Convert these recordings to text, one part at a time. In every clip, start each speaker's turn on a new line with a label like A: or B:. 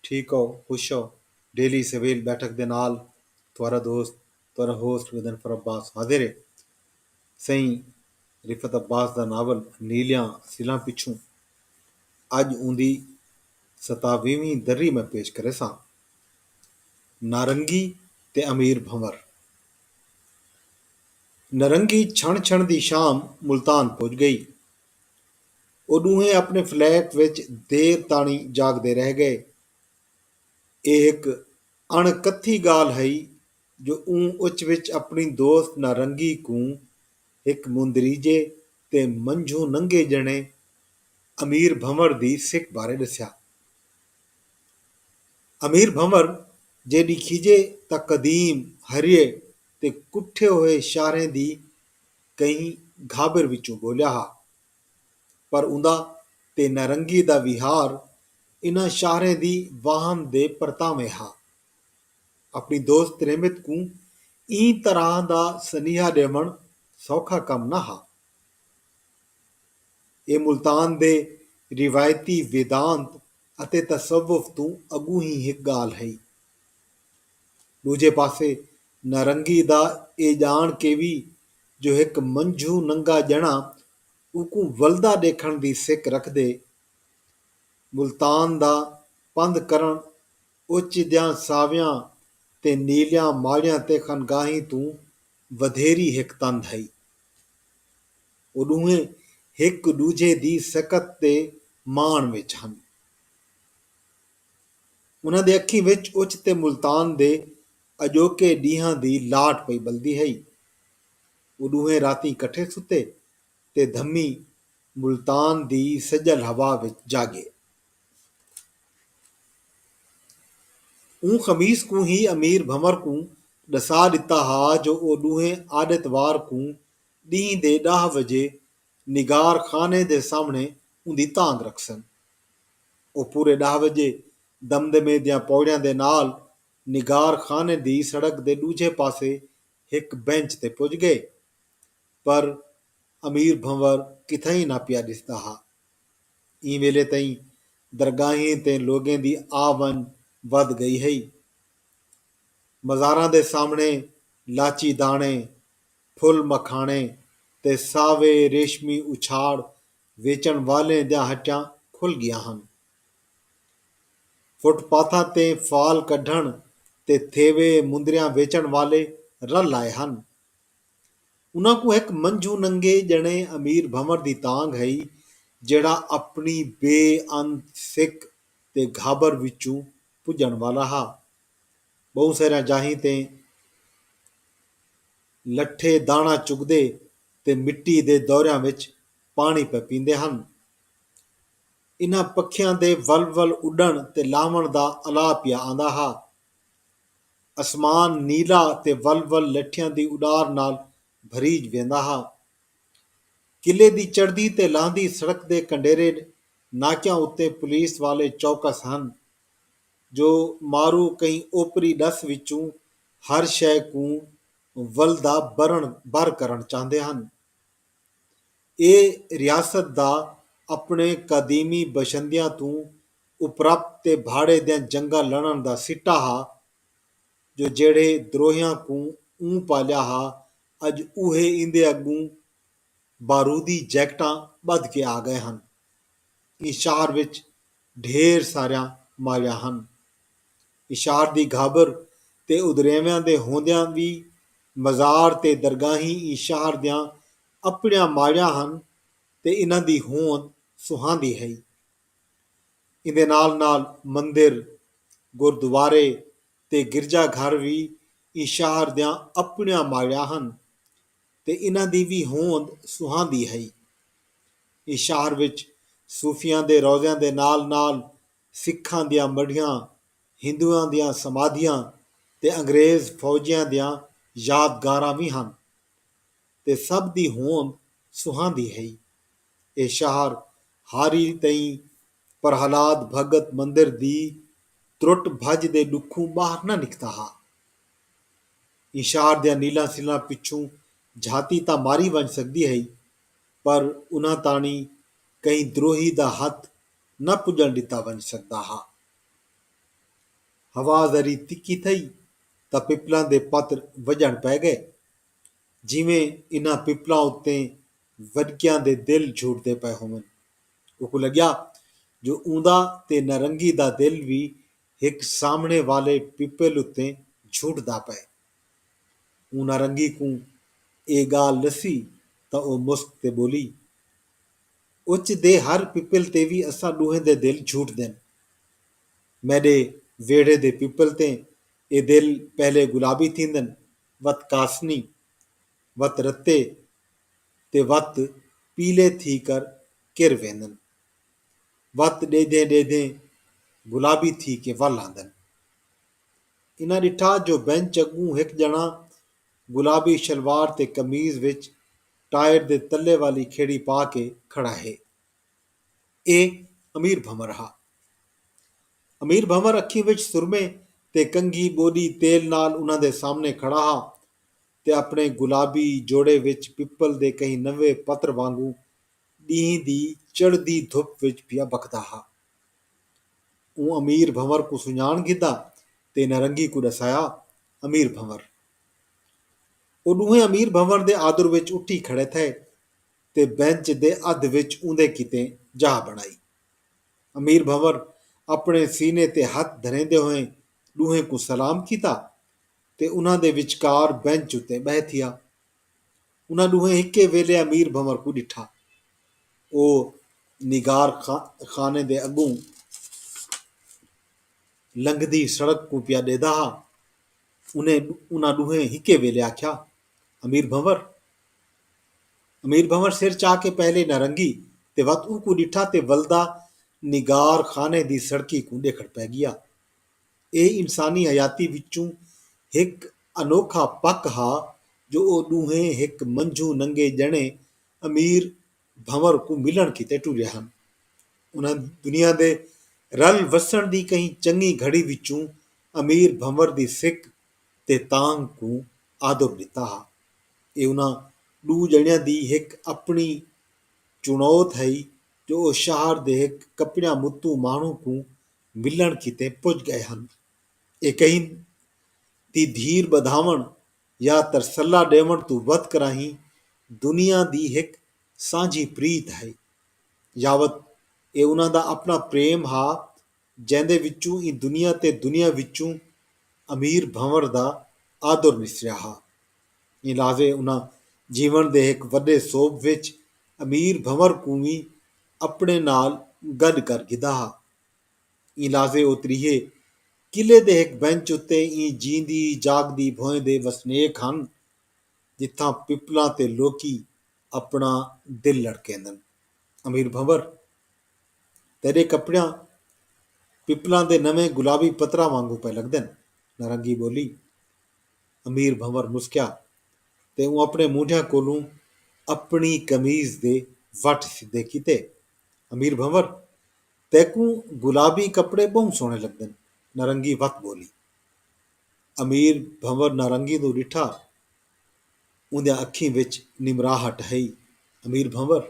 A: ٹھیک ہو خوش ہو ڈیلی سویل بیٹھک دے نال تہاڈا دوست تہاڈا ہوسٹ غضنفر عباس حاضر ہے سئیں رفعت عباس دا ناول نیلیاں سلاں پچھوں اج اوندی ستاویہویں دری میں پیش کریساں نارنگی تے امیر بھنور نرنگی چھݨ چھݨ دی شام ملتان پج ڳئی او ݙوہیں اپݨے فلیٹ وچ دیر تاݨی جاڳدے رہ ڳئے۔ اے ہک اݨ کتھی ڳالھ ہئی جو اوں اچ وچ اپݨی دوست نارنگی کوں ہک مندریجے تے منجھوں ننگے ڄݨے امیر بھنور دی سک بارے ݙسیا۔ امیر بھنور جیݙی کھیڄے تاں قدیم ہریے تے کٹھے ہوئے شاہریں دی کہیں گھابر وچوں گھولیا ہا۔ پر اوندا تے نارنگی دا ویہار انہاں شاہریں دی واہم دے پرتاویں ہا۔ اپݨی دوست رحمت کوں ایں طرح دا سنیہا ݙیوݨ سوکھا کم نہ ہا۔ ایہ ملتان دے روایتی ویدانت اتے تصوف توں اڳوں ہی ہک ڳالھ ہئی۔ ݙوجھے پاسے نارنگی دا اے ڄاݨ کیوی جو ہک منجھوں ننگا ڄݨا اوکوں ولدا ݙیکھݨ دی سک رکھدے، ملتان دا پندھ کرݨ اوچیدیاں ساویاں تے نیلیاں ماڑیاں تے خانگاہیں توں ودھیری ہک تندھ ہئی۔ او ݙوہیں ہک ݙوجھے دی سکت تے ماݨ وچ ہن۔ انہاں دے اکھیں وچ اچ تے ملتان دے اڄوکے ݙینہاں دی لاٹ پئی ٻلدی ہئی۔ او ݙوہیں راتیں کٹھے ستے تے دھمی ملتان دی سڄل ہوا وچ جاڳے۔ اوں خمیس کوں ہی امیر بھنور کوں ݙسا ݙتا ہا جو او ݙوہیں آݙ اتوار کوں ݙینہہ دے ݙاہ وڄے نگار خانے دے سامھݨے اوندی تانگھ رکھسن۔ او پورے ݙاہ وڄے دمدمے دیاں پوڑیاں دے نال نگار خانے دی سڑک دے ݙوجھے پاسے ہک بینچ تے پڄ ڳئے۔ پر امیر بھنور کتھائیں نہ پیا ݙسدا ہا۔ ایں ویلے تئیں درگاہیں تے لوگیں دی آ ونڄ ودھ ڳئی ہئی۔ مزاراں دے سامھݨے لاچی داݨے پھل مکھاݨے تے ساوے ریشمی اچھاڑ ویچݨ والیں دیاں ہٹیاں کھل ڳیاں ہن۔ فٹ پاتھاں تے فال کڈھݨ تے تھیوے مندریاں ویچݨ والے رل آئے ہن۔ انہاں کوں ہک منجھوں ننگے ڄݨے امیر بھنور دی تانگھ ہئی جیڑھا اپݨی بے انت سک تے گھابر وچوں پڄݨ والا ہا۔ ٻہوں ساریاں جاہیں تے لٹھے داݨا چڳدے تے مٹی دے دوریاں وچ پاݨی پئے پیندے ہن۔ انہاں پکھیاں دے ول ول اݙݨ تے لاہوݨ دا الا پیا آندا ہا۔ اسمان نیلا تے ول ول لٹھیاں دی اݙار نال بھریج ویندا ہا۔ قلعے دی چڑھدی تے لہندی سڑک دے کنڈیرے ناکیاں اتے پولیس والے چوکس ہن۔ جو مارو کہیں اوپری ݙس وچوں ہر شئے کوں ولدا برݨ بر کرݨ چاہندے ہن۔ اے ریاست دا اپݨے قدیمی بشندیاں توں اپرپ تے بھاڑے دیاں جنگاں لڑݨ دا سٹا ہا جو جیڑھے دروہیاں کوں اوں پالیا ہا اڄ اوہے ایندے اڳوں بارودی جیکٹاں ٻدھ کے آ ڳئے ہن۔ ایں شہر وچ ڈھیر ساریاں مالیاں ہن۔ اشار دی گھابر تے ادریویاں دے ہوندیاں وی مزار تے درگاہیں ایں شہر دیاں اپݨیاں مالیاں ہن تے انہاں دی ہوند سہاندی ہئی۔ ایندے نال نال مندر، گردوارے تے گرجا گھر وی ایں شہر دیاں اپݨیاں مالیاں ہن۔ تے انہاں دی وی ہوند سہاندی ہئی۔ ایں شہر وچ صوفیاں دے روضیاں دے نال نال سکھاں دیاں مڈھیاں، ہندواں دیاں سمادھیاں تے انگریز فوجیاں دیاں یادگاراں وی ہن تے سبھ دی ہوند سہاندی ہئی۔ ایہ شہر ہاری تئیں پرہلاد بھگت مندر دی ترٹ بھج دے ڈکھوں باہر نہ نکتا ہا۔ اشار دیاں نیلاں سلراں پچھوں جھاتی تاں ماری ونڄ سڳدی ہئی پر انہاں تاݨی کہیں دروہی دا ہتھ نہ پڄݨ ݙتا ونڄ سڳدا ہا۔ ہوا ذری تکھی تھئی تاں پپلاں دے پتر وڄݨ پئے ڳئے۔ جیویں انہاں پپلاں اتے وݙکیاں دے دل جھوٹدے پئے ہوون۔ اوکوں لڳیا جو اوندا تے نارنگی دا دل وی ہک سامنڑے والے پیپل اتے جھوٹدا پئے۔ اوں نارنگی کوں اے گالھ ڈسی تاں او مسک تے بولی۔ اچ دے ہر پیپل تے وی اساں ڈوہیں دے دل جھوٹدن۔ میڈے ویڑھے دے پیپل تے اے دل پہلے گلابی تھیندن وت کاسنی وت رتے تے وت پیلے تھی کر کر ویندن۔ وت ݙیہدیں ݙیہدیں گلابی تھی کے ول آندن۔ انہاں ݙٹھا جو بینچ اڳوں ہک ڄݨاں گلابی شلوار تے قمیض وچ ٹائر دے تلے والی کھیڑی پا کے کھڑا ہے۔ ایہ امیر بھنور ہا۔ امیر بھنور اکھیں وچ سرمے تے کنگھی ٻوݙی تیل نال انہاں دے سامݨے کھڑا ہا تے اپݨے گلابی جوڑے وچ پپل دے کہیں نویں پتر وانگوں ݙینہہ دی چڑھدی دھپ وچ پیا بکھدا ہا۔ اوں امیر بھنور کوں سنڄاݨ گھدا تے نارنگی کوں ݙسایا امیر بھنور۔ او ݙوہیں امیر بھنور دے آدر وچ اٹھی کھڑے تھئے تے بینچ دے ادھ وچ اوندے کیتے جاہ بݨائی۔ امیر بھنور اپݨے سینے تے ہتھ دھریندے ہوئیں ݙوہیں کوں سلام کیتا تے انہاں دے وچکار بینچ اتے ٻہہ تھیا۔ انہاں ݙوہیں ہکے ویلھے امیر بھنور کوں ݙٹھا۔ او نگار خانے دے اڳوں لنگھدی سڑک کوں پیا ݙیہدا ہا۔ انہاں ݙوہیں ہکے ویلھے آکھیا، امیر بھنور! امیر بھنور سر چا کے پہلے نارنگی تے وت اونکوں ݙٹھا تے ولدا نگار خانے دی سڑکی کوں ݙیکھڑ پئے ڳیا۔ ایہ انسانی حیاتی وچوں ہک انوکھا پک ہا جو او ݙونہیں ہک منجھوں ننگے ڄݨے امیر بھنور کوں ملݨ کیتے ٹریا ہن۔ انہاں دنیا دے رل وسݨ دی کہیں چنڳی گھڑی وچوں امیر بھنور دی سک تے تانگھ کوں آدب ݙتا ہا۔ ایہ انہاں ݙو ڄݨیاں دی ہک اپݨی چݨوت ہئی جو او شہر دے ہک کپیاں متوں ماݨوں کوں ملنڑ کیتے پج گئے ہن۔ ایکئین دی دھیر بدھاونڑ یا ترسلہ ڈیونڑ توں ودھ کراہیں دنیا دی ہک سانجھی پریت ہئی۔ یاوت اے انہاں دا اپنڑاں پریم ہا جیندے وچوں ایں دنیا تے دنیا وچوں امیر بھنور دا آدر نسریا ہا۔ ایں لحاظے انہاں جیونڑ دے ہک وڈے سوبھ وچ امیر بھنور کوں وی اپنڑے نال گڈ کر گھدا ہا۔ ایں لازے او تریہے قلعے دے ہک بنچ اتے ایں جیندی جاگدی بھوئیں دے وسنیک ہن جتھاں پپلاں تے لوکی اپنا دل لڑکیندن۔ امیر بھنور! تیڈے کپڑیاں پپلاں دے نویں گلابی پتراں وانگوں پئے لگدن۔ نارنگی ٻولی۔ امیر بھنور مسکیا تے اوں اپنے مونڈھیاں کولوں اپنی قمیض دے وٹ سدھے کیتے۔ امیر بھنور، تیکوں گلابی کپڑے ٻہوں سوہݨے لڳدن، نارنگی وت ٻولی۔ امیر بھنور نارنگی دو ݙٹھا، اوندیاں اکھیں وچ نمراہٹ ہئی۔ امیر بھنور،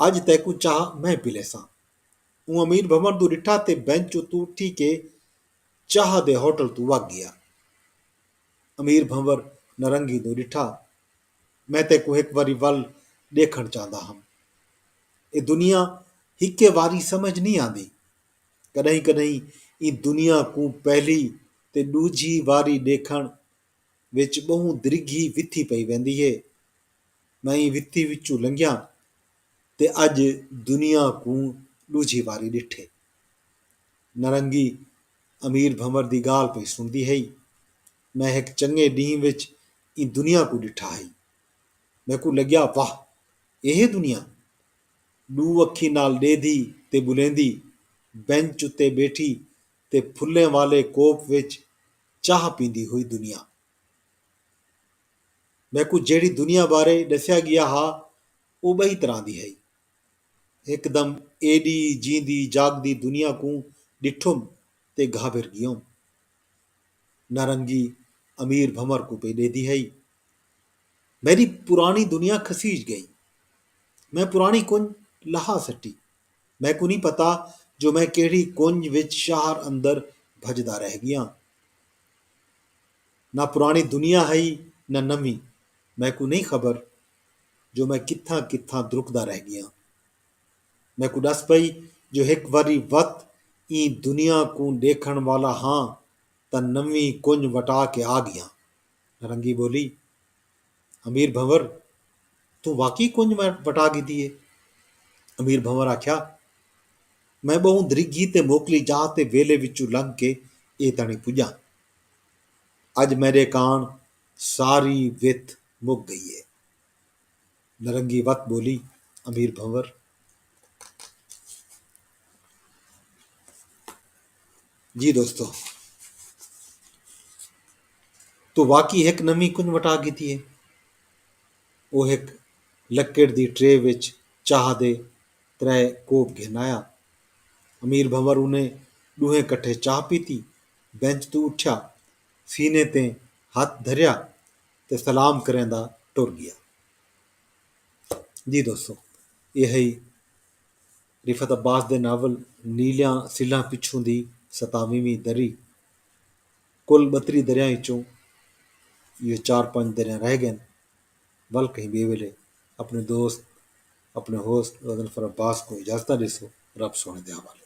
A: اڄ تیکوں چاہ میں پلیساں۔ اوں امیر بھنور دو ݙٹھا تے بینچ اتوں اٹھی کے چاہ دے ہوٹل توں وڳ ڳیا۔ امیر بھنور نارنگی دو ݙٹھا۔ میں تیکوں ہک واری ول ݙیکھݨ چاہندا ہم۔ اے دنیا ہکے واری سمجھ نئیں آندی۔ کݙاہیں کݙاہیں ایں دنیا کوں پہلی تے ݙوجھی واری ݙیکھݨ وچ ٻہوں دریگھی وتھی پئی ویندی ہے۔ میں ایں وتھی وچوں لنگھیاں تے اڄ دنیا کوں ݙوجھی واری ݙٹھے۔ نارنگی امیر بھنور دی ڳالھ پئی سݨدی ہئی۔ میں ہک چنڳے ݙینہہ وچ ایں دنیا کوں ݙٹھا ہئی۔ میکوں لڳیا واہ! ایہے دنیا؟ ݙو اکھیں نال ݙیہدھی تے ٻلیندی بینچ اتے ٻیٹھی تے پھلیں والے کوپ وچ چاہ پیندی ہوئی دنیا۔ میکوں جیڑھی دنیا بارے ݙسیا ڳیا ہا او ٻئی طرح دی ہئی۔ ہکدم ایݙی جیندی جاڳدی دنیا کوں ݙٹھم تے گھابر ڳیوم۔ نارنگی امیر بھنور کوں پئے ݙیندی ہئی۔ میݙی پراݨی دنیا کھسیج ڳئی۔ میں پراݨی کنڄ لہا سٹی۔ میکوں نی پتہ جو میں کیہڑی کنڄ وچ شہر اندر بھڄدا رہ ڳیاں۔ نہ پراݨی دنیا ہئی نہ نویں۔ میکوں نی خبر جو میں کتھاں کتھاں درکدا رہ ڳیاں۔ میکوں ݙس پئی جو ہک واری وت ایں دنیا کوں ݙیکھݨ والا ہاں تاں نویں کنڄ وٹا کے آ ڳیاں۔ نارنگی ٻولی، امیر بھنور! توں واقعی کنڄ وٹا ڳھدی اے؟ امیر بھنور آکھیا، میں ٻہوں دریگھی تے موکلی جاہ تے ویلھے وچوں لنگھ کے ایں تاݨیں پڄاں۔ اڄ میݙے کاݨ ساری وت مک ڳئی اے۔ نرنگی وت ٻولی امیر بھنور جی دوستو توں واقعی ہک نویں کنج وٹا گھدی ہے او ہک لکڑ دی ٹرے وچ چاہ دے ترے کوپ گھن آیا امیر بھنور انہیں ݙوہیں کٹھے چاہ پیتی بینچ توں اٹھیا سینے تے ہتھ دھریا تے سلام کریندا ٹر ڳیا۔ جی دوستو ایہ ہئی رفعت عباس دے ناول نیلیاں سلھاں پچھوں دی ستاویہویں دری۔ کل ٻتری دریاں اچوں ایہو چار پنج دریاں رہ ڳئن ول کہیں ٻئے ویلے اپݨے دوست اپݨے ہوست غضنفر عباس کوں اجازتاں ݙیسو رب سوہݨے دے حوالے۔